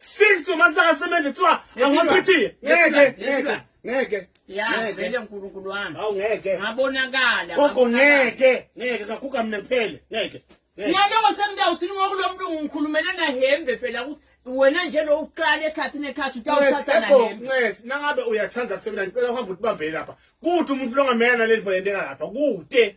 60 masaka semente kuthiwa angaphethiye ngeke ngeke ngeke yavele uNkulunkulu wami awu ngeke ngabonakala gogo ngeke ngeke kaguga mina kuphele ngeke ngiyalowo sengidawuthini ngokulomlungu ngikhulumela nahembe phela ukuthi wena nje lo uqala ekhathini ekhathi utawuthatha nahembe ncesi nangabe uyathanda kusebenza ngicela uhambe utibambele lapha kude umuntu longamela naleli volente ngalapha kude